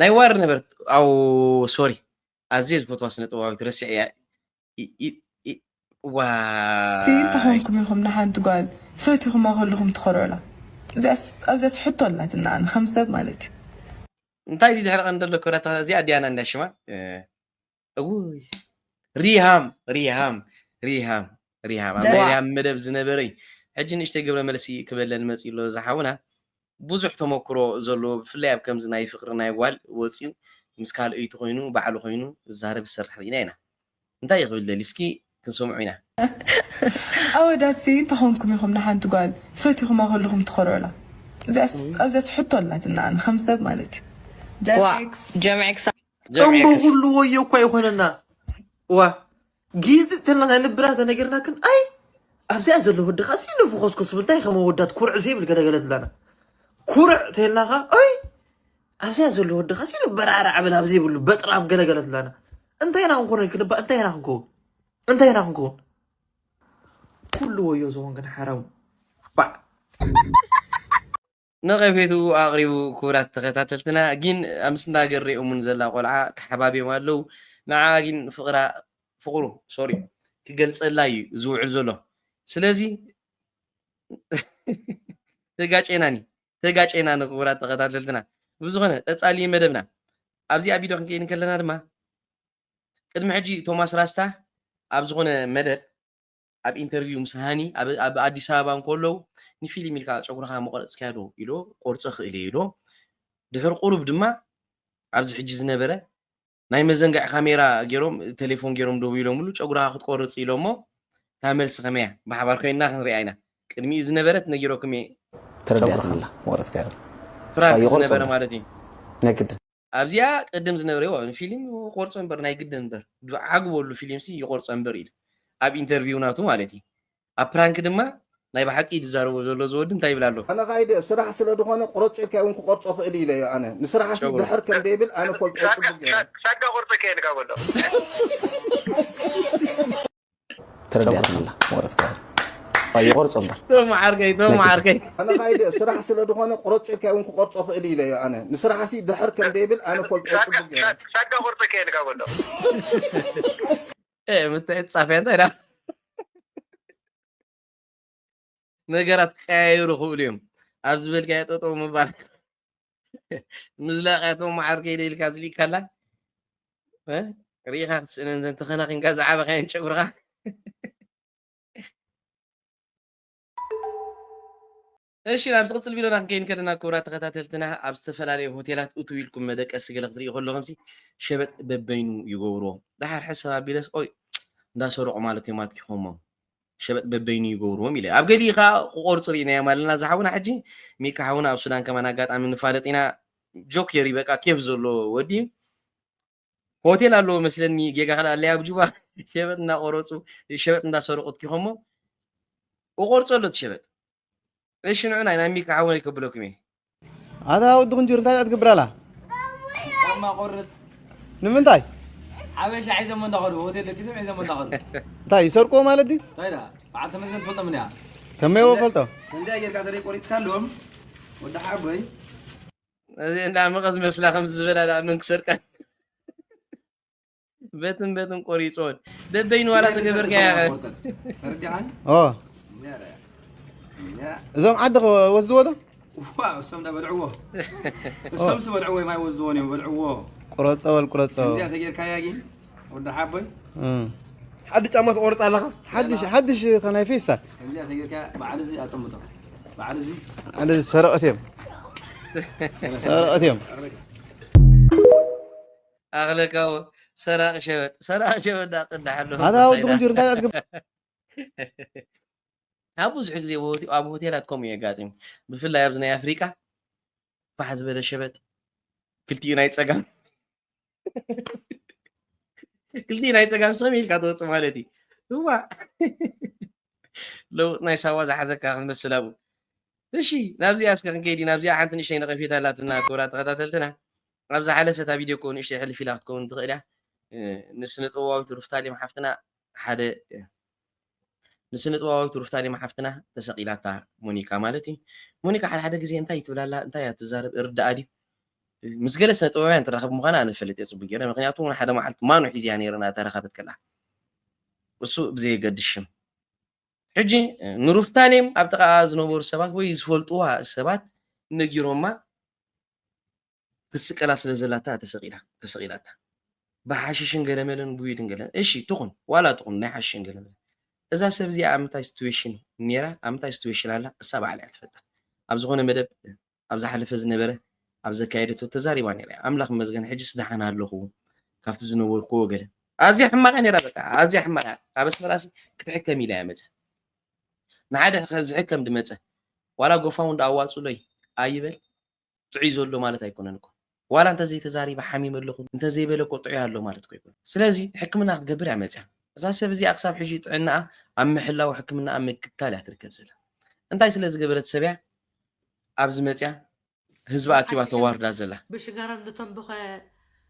ናይ ዋር ነበርት ኣው ሶሪ ኣዝየ ዝፈትዋ ስነ ጥበባዊት ረሲዐ እያ ዋይ እንተኾንኩም ኢኹም ንሓንቲ ጓል ፈቲኹማ ከለኹም ትኾርዑላ ኣብዚኣስ ሕቶ ኣላትና ኣነ ከም ሰብ ማለት እዩ እንታይ ድሕሪ ቀንዲ ኣሎ ኮናታ እዚኣ ዲያና እንዳ ሽማ እውይ ሪሃም ሪሃም ሪሃም ሪሃም ኣብ ናይ ሪሃም መደብ ዝነበረ እዩ ሕጂ ንእሽተይ ግብረ መልሲ ክበለን መፅኡ ኣሎ ዝሓውና ብዙሕ ተመክሮ ዘለዎ ብፍላይ ኣብ ከምዚ ናይ ፍቅሪ ናይ ጓል ወፅዩ ምስ ካልኦይቲ ኮይኑ ባዕሉ ኮይኑ ዝዛረብ ዝሰርሕ ርኢና ኢና እንታይ እዩ ክብል ደልዩ እስኪ ክንሰምዑ ኢና። ኣወዳት ሲ እንታይ ኮንኩም ኢኩም ንሓንቲ ጋል ፈቲኩማ ከለኩም ትኮርዑላ እዚኣስ ኣብዚኣስ ሕቶ ኣላትና ኣነ ከም ሰብ ማለት ዩ ዋእ ጀምዔክስ ጀምዔክስ እምቦ ጀምዔክስ ኩሉ ወዮ እኳ ይኾነና እዋ ጊዝ ተልና ናይ ልብና ተነገርናክን ኣይ ኣብዚኣ ዘሎ ወዲ ከዓ ሲሉ ፍኾስኮስ ብልታይ ከም ወዳት ኩርዕ ዘይብል ገለገለት ኣለና ኩርዕ ተልናኻ ኣይ ኣብዚኣ ዘሎ ወድኻ ሲሉ በራዕራዕ በል ኣብ ዘይብሉ በጥራም ገለገለ ትብላና እንታይ ኢና ክንኮነ ኢልክ ንባ እንታይ ኢና ክንከውን እንታይ ኢና ክንከውን ኩሉ ወዮ ዝኾን ግን ሓራሙ ባዕ ነቐፌቱ ኣቕሪቡ ክቡራት ተኸታተልትና ግን ኣምስና ገር ሪኦሙን ዘላ ቆልዓ ተሓባቢዮም ኣለው ንዓ ግን ፍቕራ ፍቕሩ ሶሪ ክገልጸላ እዩ ዝውዕል ዘሎ ስለዚ ተጋጨናኒ ተጋጨና ንክቡራት ተኸታተልትና ብዝኾነ ቀጻሊ እዩ መደብና ኣብዚኣ ቪድዮ ክንከይድ ከለና ድማ ቅድሚ ሕጂ ቶማስ ራስታ ኣብ ዝኾነ መደብ ኣብ ኢንተርቪው ምስ ሃኒ ኣብ ኣዲስ ኣበባ እንከለዉ ንፊልም ኢልካ ጨጉርኻ መቆረፅካያ ዶ ኢሎ ቆርፆ ክእል እየ ኢሎ ድሕሪ ቁሩብ ድማ ኣብዚ ሕጂ ዝነበረ ናይ መዘንግዒ ካሜራ ገይሮም ቴሌፎን ገይሮም ደዊሎምሉ ጨጉራኻ ክትቆርጽ ኢሎሞ እታ መልሲ ከመይ እያ ብሓባር ኮይንና ክንሪኣ ኢና ቅድሚኡ ዝነበረት ነጊረኩም እየ ተረዲኣትኒ ኣላ መቕረጽካ ፍራንክ ዝነበረ ማለት እዩ ናይ ግድን ኣብዚኣ ቅድም ዝነበረ ፊልም ቆርጾ እምበር ናይ ግድን እምበር ዓግበሉ ፊልምሲ ይቆርጾ እምበር ኢሉ ኣብ ኢንተርቪው ናቱ ማለት እዩ ኣብ ፕራንክ ድማ ናይ ብሓቂ ኢዩ ዝዛረቦ ዘሎ እዚ ወዲ እንታይ ይብል ኣሎ። ኣነ ካይደ ስራሕ ስለ ድኮነ ቁረጾ ኢልካዮ ውን ክቆርጾ ክእል ኢለዮ ኣነ ንስራሕሲ ድሕር ከም ደይብል ኣነ ፈልጦ ጽቡቅ ገይረ። ሳጋ ቁርጺ ከ ኢልካ በሎ። ተረዲኣትኒ ኣላ ወረት ካይደ ኣየ ቆርጾ እምበር። ቶም ዓርከይ ቶም ዓርከይ። ኣነ ካይደ ስራሕ ስለ ድኮነ ቁረጾ ኢልካዮ ውን ክቆርጾ ክእል ኢለዮ ኣነ ንስራሕሲ ድሕር ከም ደይብል ኣነ ፈልጦ ጽቡቅ ገይረ። ሳጋ ቁርጺ ከ ኢልካ በሎ። ኤ ምትዕጻፍያ እንታይ ዳ ነገራት ክቀያየሩ ክእሉ እዮም ኣብ ዝበልካዮ ጠጠው ምባል ምዝላቅያቶ ማዓር ከይደ ኢልካ ዝሊእካ ኣላ ርኢኻ ክትስእነን ዘን ተኸናኺንካ ዝዓበኻየን ጨጉርኻ እሺ ናብ ዝቅጽል ቪድዮና ክንከይድ ከለና ክቡራት ተኸታተልትና ኣብ ዝተፈላለዩ ሆቴላት እትው ኢልኩም መደቀሲ ገለ ክትሪኡ ከለኹምሲ ሸበጥ በበይኑ ይገብርዎ ደሓር ሕሰብ ኣቢለስ ኦይ እንዳሰረቑ ማለት እዮም ኣትኪኹሞ ሸበጥ በበይኑ ይገብርዎም ኢለ ኣብ ገሊኡ ከዓ ክቆርፁ ርኢናዮም ኣለና እዛ ሓውና ሕጂ ሚካ ሓውና ኣብ ሱዳን ከማን ኣጋጣሚ ንፋለጥ ኢና ጆክ የሪ በቃ ኬፍ ዘሎ ወዲ እዩ ሆቴል ኣለዎ መስለኒ ጌጋ ከልኣለይ ኣብ ጁባ ሸበጥ እናቆረፁ ሸበጥ እንዳሰረቁ ትኪኸሞ እቆርፆ ኣሎ እቲ ሸበጥ እሺ ንዑና ኢና ሚካ ሓወይ ከብለኩም እየ ኣታ ወዲ ቁንጅር እንታይ እያ ትገብር ኣላ ጫማ ቆርፅ ንምንታይ ሓበሻ ሒዘሞ እንዳኸዱ ሆቴል ደቂሶም ሒዘሞ እንዳኸዱ እንታይ ይሰርቁዎ ማለት ድዩ እንታይ ዳ በዓል ተመስገን ትፈልጦም እኒኣ ከመይ ወፈልጦ ከምዚኣ ጌርካ ተደይ ቆሪፅካ ኣለዎም ወዲ ሓቦይ እዚ እንዳመቐ ዝመስላ ከምዚ ዝበላ ደኣ መን ክሰርቀን በትን በትን ቆሪፆን በበይኑ ዋላ ተገበርካያ እዞም ዓዲ ወስድዎ ዶ እሶም በልዕዎ እሶም ዝበልዕዎ ማይ ወስድዎን እዮም በልዕዎ ቁረፀ በል ቁረፀ ተጌርካያ ግን ወዲ ሓቦይ ሓድሽ ጫማ ትቆርፅ ኣለኻ ሓድሽ ሓድሽ ከናይ ፌስታል ከምዚኣ ተጌርካ በዓል እዚ ኣጠምቶ በዓል እዚ ኣነ ሰረቐት እዮም ሰረቐት እዮም ኣኽለካው ሰራቂ ሸበጥ ሰራቂ ሸበጥ ዳቅዳሓሎ ኣታ ወዲ ቁንጅር እንታይ ኣትገብ ኣብ ብዙሕ ግዜ ኣብ ሆቴላት ከምኡ የጋጥም ብፍላይ ኣብዚ ናይ ኣፍሪቃ ፋሕ ዝበለ ሸበጥ ክልቲኡ ናይ ፀጋም ክልቲኡ ናይ ፀጋም ሰም ኢልካ ትወፅእ ማለት እዩ እዋ ለውጥ ናይ ሳዋ ዝሓዘካ ክንመስል ኣብኡ እሺ ናብዚኣ እስከ ክንከይዲ ናብዚኣ ሓንቲ ንእሽተይ ነቐፌታ ኣላትና ክብራ ተኸታተልትና ኣብ ዝሓለፈ እታ ቪድዮ ኮ ንእሽተይ ሕልፍ ኢላ ክትከውን ትኽእል እያ ንስነ ጥበባዊት ሩፍታሌም ሓፍትና ሓደ ንስነጥበባዊት ሩፍታሊማ ሓፍትና ተሰቂላታ ሞኒካ ማለት እዩ ሞኒካ ሓደ ሓደ ግዜ እንታይ ትብል ኣላ እንታይ እያ ትዛረብ ይርዳኣ ድዩ ምስ ገለ ስነጥበባውያን ትራኸብ ምዃና ኣነ እፈልጥ እየ ጽቡቅ ጌረ ምክንያቱ ውን ሓደ መዓልቲ ማኑ ሒዘያ ነይረ እናተራኸበት ከላ እሱ ብዘየገድስ ሽም ሕጂ ንሩፍታሌም ኣብ ጥቃኣ ዝነበሩ ሰባት ወይ ዝፈልጥዋ ሰባት ነጊሮማ ክትስቀላ ስለ ዘላታ ተሰቂላ ተሰቂላታ ብሓሽሽን ገለመለን ጉይድን ገለን እሺ ትኹን ዋላ ትኹን ናይ ሓሽሽን ገለመለን እዛ ሰብ እዚኣ ኣብ ምንታይ ሲትዌሽን ነይራ ኣብ ምንታይ ሲትዌሽን ኣላ እሳ ባዕላ እያ ትፈልጣ ኣብ ዝኾነ መደብ ኣብ ዝሓለፈ ዝነበረ ኣብ ዘካየደቶ ተዛሪባ ነይራ እያ ኣምላኽ መስገን ሕጅስ ደሓን ኣለኹ ካብቲ ዝነበርኩዎ ገለ ኣዝያ ሕማቕ እያ ነይራ በቃ ኣዝያ ሕማቕ እያ ካብ ኣስመራሲ ክትሕከም ኢላ እያ መፀ ንሓደ ዝሕከም ድመፀ ዋላ ጎፋውን ዶ ኣዋፅሎይ ኣይበል ጥዑይ ዘሎ ማለት ኣይኮነን እኮ ዋላ እንተዘይ ተዛሪበ ሓሚመ ኣለኹ እንተዘይ በለ እኮ ጥዑይ ኣሎ ማለት እኮ ኣይኮነን ስለዚ ሕክምና ክትገብር እያ መጽያ እዛ ሰብ እዚኣ ክሳብ ሕጂ ጥዕናኣ ኣብ ምሕላው ሕክምናኣ ምክትታል እያ ትርከብ ዘላ እንታይ ስለ ዝገበረት ሰብ እያ ኣብዚ መጽያ ህዝቢ ኣኪባ ተዋርዳ ዘላ። ብሽጋራ ዝተንብኸ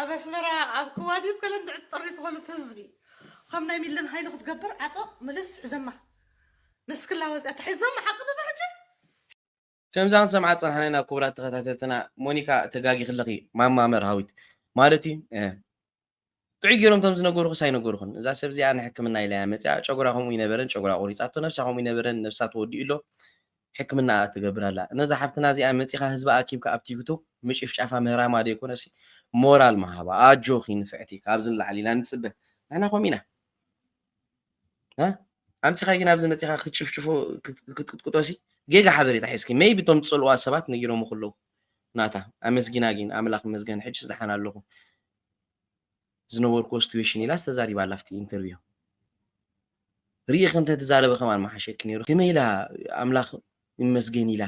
ኣብ ኣስመራ ኣብ ክዋዲብ ከለ እንድዒ ተጠሪፉ ከሉ እቲ ህዝቢ ከም ናይ ሚለን ሃይሉ ክትገብር ዓጠቕ ምልስ ሕዘማ ንስክላ ወጽያ ተሒዞም ሓቂ ዶ ተሕጂ። ከምዛ ክንሰምዓ ዝጸናሕና ኢና ኩቡራት ተኸታተልትና ሞኒካ ተጋጊኺ ኣለኺ ማማ መርሃዊት ማለት እዩ እህ ጥዑይ ጌሮም እቶም ዝነገሩኽስ ኣይነገሩኽን እዛ ሰብ እዚኣ ንሕክምና ኢላያ መጺኣ ጨጉራ ከምኡ ይነበረን ጨጉራ ቆሪጻቶ ነብሳ ከምኡ ይነበረን ነብሳ ተወዲኡ ኣሎ ሕክምናኣ ትገብር ኣላ ነዛ ሓፍትና እዚኣ መጺኻ ህዝባ ኣኪብካ ኣብ ቲክቶክ ምጭፍጫፋ ምህራማ ደይኮነሲ ሞራል ምሃባ ኣጆኺ ንፍዕቲ ካብዚ ንላዕሊ ኢና ንጽበ ንሕና ከምኡ ኢና እ ኣምጺኻ ግን ኣብዚ መጺኻ ክትጭፍጭፎ ክትቅጥቅጦሲ ጌጋ ሓበሬታ ሒዝኪ መይቢ እቶም ዝጸልዋ ሰባት ነጊሮም ከለዉ ናታ ኣመስጊና ግን ኣምላኽ መስገን ሕጅስ ደሓን ኣለኹ ዝነበርኩዎ ስትዌሽን ኢላስ ተዛሪባ ኣላ ኣብቲ ኢንተርቪው ሪኢኺ እንተትዛረቢ ከማን ምሓሸኪ ኔሩ ከመይ ኢላ ኣምላኽ ይመስገን ኢላ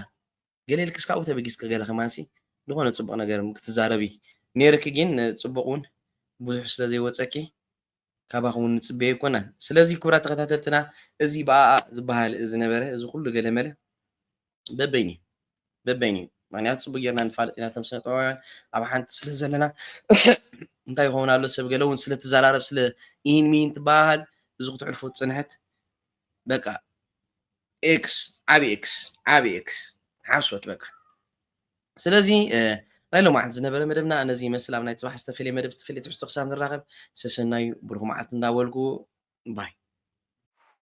ገለ ኢልክስ ካብኡ ተበጊስኪ ገለ ከማንሲ ዝኾነ ጽቡቕ ነገር ክትዛረቢ ኔርኪ ግን ጽቡቕ ውን ብዙሕ ስለ ዘይወጸኪ ካባኹም ውን ንጽበዮ ኣይኮናን ስለዚ ክቡራት ተኸታተልትና እዚ ብኣኣ ዝበሃል ዝነበረ እዚ ኩሉ ገለመለ በበይኑ እዩ በበይኑ እዩ ምክንያቱ ፅቡቅ ጌርና ንፋለጥ ኢና ተም ስነ ጥበባውያን ኣብ ሓንቲ ስለ ዘለና እንታይ ይኸውን ኣሎ ሰብ ገለ እውን ስለትዘራረብ ስለ ኢን ሚን ትበሃል እዚ ክትሕልፉ ፅንሕት በቃ ኤክስ ዓብ ኤክስ ዓብ ኤክስ ሓሶት በቃ ስለዚ ናይ ሎማዓንቲ ዝነበረ መደብና ነዚ ይመስል ኣብ ናይ ፅባሕ ዝተፈለየ መደብ ዝተፈለየ ትሕዝቶ ክሳብ ንራኸብ ሰሰናዩ ብሩክ መዓልቲ እንዳበልኩ ባይ